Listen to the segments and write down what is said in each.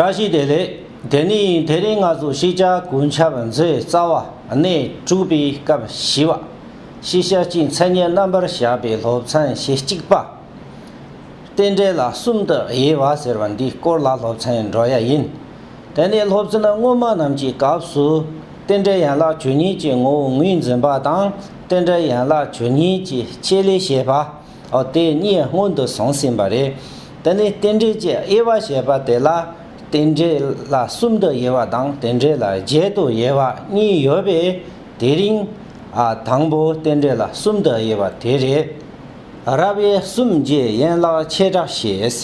བཀྲ་ཤིས་བདེ་ལེགས། དེ་ནི་དེ་རིང་ང་ཚོ་ཤེས་བྱ་ཀུན་ཁྱབ་མཛོད་རྩ་བ་གནས་དྲུག་པའི་སྐབས་བཞི་བ། ཤེས་བྱ་སྤྱིའི་མཚན་སྙན་རྣམ་པར་བཞག་པའི་སློབ་ཚན་ཞེ་གཅིག་པ། རྟེན་འབྲེལ་ལ་གསུམ་དུ་དབྱེ་བ་ཟེར་བ་འདིའི་སྐོར་ལ་སློབ་ཚན་འགྲོ་ཡ་ཡིན། དེ་ནས་སློབ་ཚན་སྔོན་མ་རྣམས་ཀྱི་སྐབས་སུ། རྟེན་འབྲེལ་ཡན་ལག་བཅུ་གཉིས་ཀྱི་ངོ་བོ་ངོས་འཛིན་པ་དང་རྟེན་འབྲེལ་ཡན་ལག་བཅུ་གཉིས་ཀྱི་ཆེད་ལས་བྱེད་པ། འོ་དེ་གཉིས་སྔོན་དུ་བཟུང་ཟིན་པ་རེད། དེ་ནས་རྟེན་འབྲེལ་གྱི་དབྱེ་བ་ཞེས་པ་དེ་ལ། རྟེན་འབྲེལ་ལ་གསུམ་དུ་དབྱེ་བ་དང་རྟེན་འབྲེལ་ལ་བརྒྱད་དུ་དབྱེ་བ་གཉིས་ཡོད་པས་དེ་རིང། དང་པོ་རྟེན་འབྲེལ་ལ་གསུམ་དུ་དབྱེ་བ་དེ་རེད། རབ་དབྱེ་གསུམ་བརྒྱད་ཡན་ལག་ཆེ་ཕྲ་ཞེས།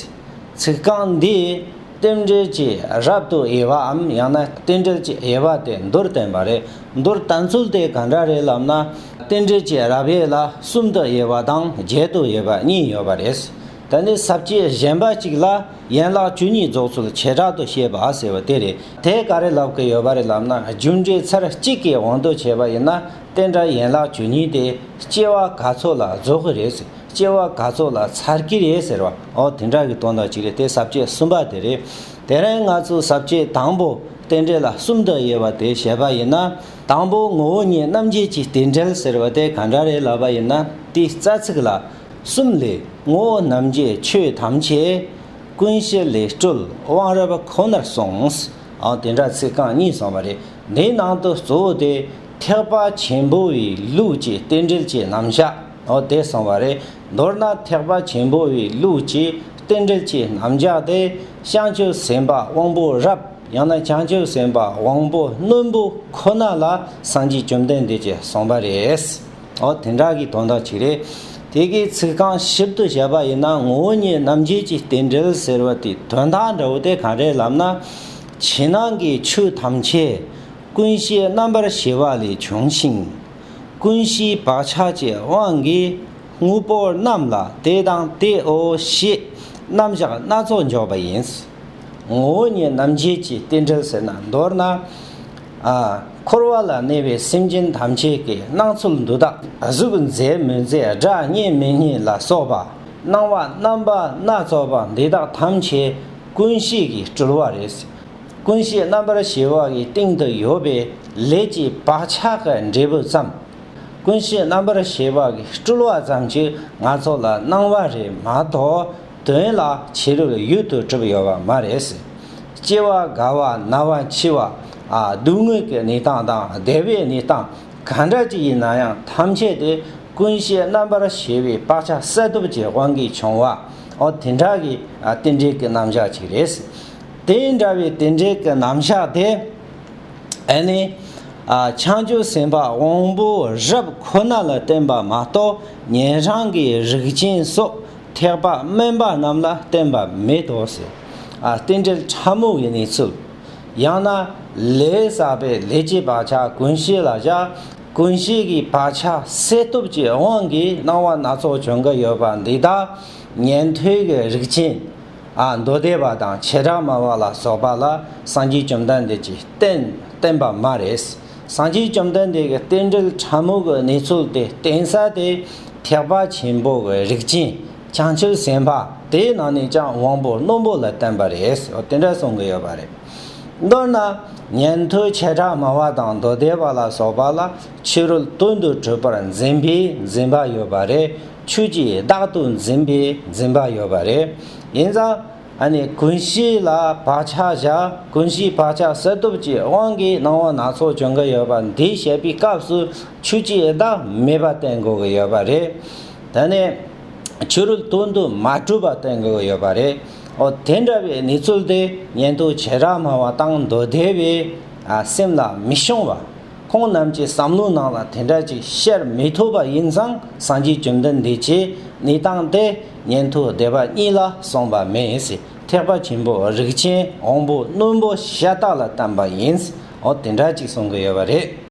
ཚིག་རྐང་འདིས་རྟེན་འབྲེལ་གྱི་རབ་ཏུ་དབྱེ་བའམ་ཡང་ན་རྟེན་འབྲེལ་གྱི་དབྱེ་བ་དེ་མདོར་བསྟན་པ་རེད། མདོར་བསྟན་ཚུལ་དེ་ག་འདྲ་རེད་ལབ་ན། རྟེན་འབྲེལ་གྱི་རབ་དབྱེ་ལ་གསུམ་དུ་དབྱེ་བ་དང་བརྒྱད་དུ་དབྱེ་བ་གཉིས་ཡོད་པ་རེད། དེ་ནི་ཟབ་ཁྱད་གཞན་པ་གཅིག་ལ་ཡན་ལག་བཅུ་གཉིས་རྫོགས་ཚུལ་བྱེ་བྲག་ཏུ་བཤད་པ་ཟེར་བ་དེ་རེད། དེ་ག་རེ་ལབ་ཀྱི་ཡོད་པ་རེད་ལབ་ན་རྒྱུ་འབྲས་ཚར་གཅིག་གི་དབང་དུ་བྱས་པ་ཡིན་ན་རྟེན་འབྲེལ་ཡན་ལག་བཅུ་གཉིས་དེ་སྐྱེ་བ་ག་ཚོད་ལ་རྫོགས་ཀྱི་རེད། སྐྱེ་བ་ག་ཚོད་ལ་ཚར་གྱི་རེད་ཟེར་བ། ཨོ་དེ་འདྲ་གི་དོན་དག་ཅིག་རེད་དེ་ཟབ་ཆོས་གསུམ་པ་དེ་རེད། དེ་རིང་ང་ཚོས་ཟབ་ཆོས་དང་པོ་རྟེན་འབྲེལ་ལ་གསུམ་དུ་དབྱེ་བ་དེ་བཤད་པ་ཡིན་ན། དང་པོ་ངོ་བོ་ཉིད་རྣམ་འབྱེད་ཀྱི་རྟེན་འབྲེལ་ཟེར་བ་དེ་ག་འདྲ་རེད་ལབ་པ་ཡིན་ན་དེའི་རྩ་ཚིག་ལ། གསུམ་ལས། ངོ་བོ་རྣམ་འབྱེད་ཆོས་ཐམས་ཅད། ཀུན་གཞི་ལས་སྤྲུལ་དབང་རབ་ཁོ་ནར་གསུངས། ཨོ་དེ་འདྲ་ཚིག་རྐང་གཉིས་གསུངས་པ་རེད། དེའི་ནང་དུ་གཙོ་བོ་དེ། ཐེག་པ་ཆེན་པོའི་ལུགས་ཀྱི་རྟེན་འབྲེལ་ཅེས་རྣམ་གཞག། འོ་དེ་སོང་བ་རེད། མདོར་ན་ཐེག་པ་ཆེན་པོ་བའི་ལུགས་ཀྱི་རྟེན་འབྲེལ་གྱི་རྣམ་གཞག་དེ་བྱང་ཆུབ་སེམས་དཔའ་དབང་པོ་རབ་ཡང་ན་བྱང་ཆུབ་སེམས་དཔའ་དབང་པོ་རྣོན་པོ་ཁོ་ན་ལ་སངས་རྒྱས་བཅོམ་ལྡན་འདས་ཀྱིས་གསུངས་པ་རེད། འོ་དེ་འདྲ་གི་དོན་དག་ཅིག་རེད། དེ་གའི་ཚིག་རྐང་ཞིབ་ཏུ་བྱས་པ་ཡིན་ན་ངོ་བོ་ཉིད་རྣམ་འབྱེད་ཀྱི་རྟེན་འབྲེལ་ཟེར་བ་དེའི་དོན་དག་འདྲ་བོ་དེ་གང་རེད་ལབ་ན། ཕྱི་ནང་གི་ཆོས་ཐམས་ཅད་ཀུན་བྱེད་རྣམ་པར་ཤེས་པ་ལས་བྱུང་ཞིང། ཀུན་གཞིའི་བག་ཆགས་ཀྱི་དབང་གིས་དངོས་པོ་རྣམས་ལ་དེ་དང་དེའོ་ཞེས་རྣམ་གཞག་སྣ་ཚོགས་འཇོག་པ་ཡིན། ངོ་བོ་ཉིད་རྣམ་འབྱེད་ཀྱི་རྟེན་འབྲེལ་ཟེར་ན་མདོར་ན། འཁོར་བ་ལ་གནས་པའི་སེམས་ཅན་ཐམས་ཅད་ཀྱི་སྣང་ཚུལ་འདུག་སྟངས་གཟུགས་མཛེས་མི་མཛེས་སྒྲ་སྙན་མི་སྙན་ལ་སོགས་པ་སྣང་བ་རྣམ་པ་སྣ་ཚོགས་པ་འདི་དག་ཐམས་ཅད་ཀུན་གཞི་ཡི་སྤྲུལ་བ་རེད། ཀུན་བྱེད་རྣམ་པར་ཞི་བ་ཡི་སྟེང་དུ་ཡོད་པའི་ལས་ཀྱི་བག་ཆགས་ཀྱི་འབྲས་བུ་ཙམ། ཀུན་བྱེད་རྣམ་པར་ཞི་བ་ཡི་སྤྲུལ་བ་ཙམ་གྱིས་ང་ཚོ་ལ་སྣང་བ་རེད་མ་གཏོགས་དོན་ལ་བྱེད་རིགས་ཡུལ་དུ་གྲུབ་ཡོད་པ་མ་རེད། སྐྱེ་བ་རྒ་བ་ན་བ་འཆི་བ། སྡུག་བསྔལ་གྱི་གནས་སྟངས་དང་བདེ་བའི་གནས་སྟངས་གང་འདྲ་ཅིག་ཡིན་ན་ཡང་ཐམས་ཅད་དེ་ཀུན་བྱེད་རྣམ་པར་ཞི་བའི་བག་ཆགས་གསལ་སྟོབས་ཀྱི་དབང་གིས་བྱུང་བ་འོ་དེ་འདྲ་གི་རྟེན་འབྲེལ་གྱི་རྣམ་གཞག་ཅིག་རེད། དེ་འདྲ་བའི་དེ་འདྲའི་གི་རྣམ་གཞག་དེ་ཨེ་ནི། བྱང་ཆུབ་སེམས་དཔའ་དབང་པོ་རབ་ཁོ་ན་ལ་བསྟན་པ་མ་གཏོགས་ཉན་རང་གི་རིགས་ཅན་སོགས་ཐེག་པ་དམན་པ་རྣམས་ལ་བསྟན་པ་མེད་དོ་ཟེར། རྟེན་འབྲེལ་ཕྲ་མོ་བའི་གནས་ཚུལ། ཡང་ན། ལས་བསགས་པའི་ལས་ཀྱི་བག་ཆགས་ཀུན་ཤེས་ལ་བཞག་ཀུན་ཤེས་ཀྱི་བག་ཆགས་སད་སྟོབས་ཀྱི་དབང་གིས་སྣང་བ་སྣ་ཚོགས་བྱུང་གི་ཡོད་པ་འདི་དག་ཉན་ཐོས་ཀྱི་རིགས་ཅན། མདོ་སྡེ་པ་དང་བྱེ་བྲག་སྨྲ་བ་ལ་སོགས་པ་ལ་སངས་རྒྱས་བཅོམ་ལྡན་འདས་ཀྱིས་བསྟན་བསྟན་པ་མ་རེད། སངས་རྒྱས་བཅོམ་ལྡན་འདས་ཀྱི་རྟེན་འབྲེལ་ཕྲ་མོ་གི་གནས་ཚུལ་དེ་བསྟན་ས་དེ་ཐེག་པ་ཆེན་པོ་གི་རིགས་ཅན་བྱང་ཆུབ་སེམས་དཔའ་དེའི་ནང་ནས་ཀྱང་དབང་པོ་རྣོན་པོ་ལ་བསྟན་པ་རེད། དེ་འདྲ་གསུང་གི་ཡོད་པ་རེད། མདོར་ན། ཉན་ཐོས་བྱེ་བྲག་སྨྲ་བ་དང་མདོ་སྡེ་པ་ལ་སོགས་པ་ལ་ཕྱི་རོལ་དོན་དུ་གྲུབ་པར་འཛིན་པའི་འཛིན་པ་ཡོད་པ་རེད། ཆོས་ཀྱིས་བདག་ཏུ་འཛིན་པའི་འཛིན་པ་ཡོད་པ་རེད། ཡིན་ཙང། ཀུན་གཞི་ལ་བག་ཆགས་བཞག་ཀུན་གཞིའི་བག་ཆགས་སེལ་སྟོབས་ཀྱི་དབང་གིས་སྣང་བ་སྣ་ཚོགས་བྱུང་གི་ཡོད་པ་འདི་བཤད་པའི་སྐབས་སུ་ཆོས་ཀྱིས་བདག་མེད་པ་བསྟན་དགོས་ཀྱི་ཡོད་པ་རེད། ད་ནི། ཆོས་རུལ་དོན་དུ་མ་གྲུབ་པ་བསྟན་དགོས་ཀྱི་ཡོད་པ་རེད། འོ་དེ་འདྲ་བའི་ནུས་ཚོད་དེ་ཉན་ཐོས་བྱེ་བྲག་མང་བ་དང་མདོ་སྡེ་བའི་སེམས་ལ་མི་ཤོང་བ། ཁོང་རྣམས་ཀྱི་བསམ་བློའི་ནང་ལ་དེ་འདྲ་ཅིག་བཤད་མི་ཐུབ་པ་ཡིན་ཙང་སངས་རྒྱས་བཅོམ་ལྡན་འདས་ཀྱིས་ནི་བཏང་སྟེ་ཉན་ཐོས་སྡེ་པ་གཉིས་ལ་གསུངས་པ་མེད། ཐེག་པ་ཆེན་པོ་རིགས་ཅན་དབང་པོ་རྣོན་པོ་ཤ་སྟག་ལ་བསྟན་པ་ཡིན། འོ་དེ་འདྲ་ཅིག་གསུང་གི་ཡོད་པ་རེད།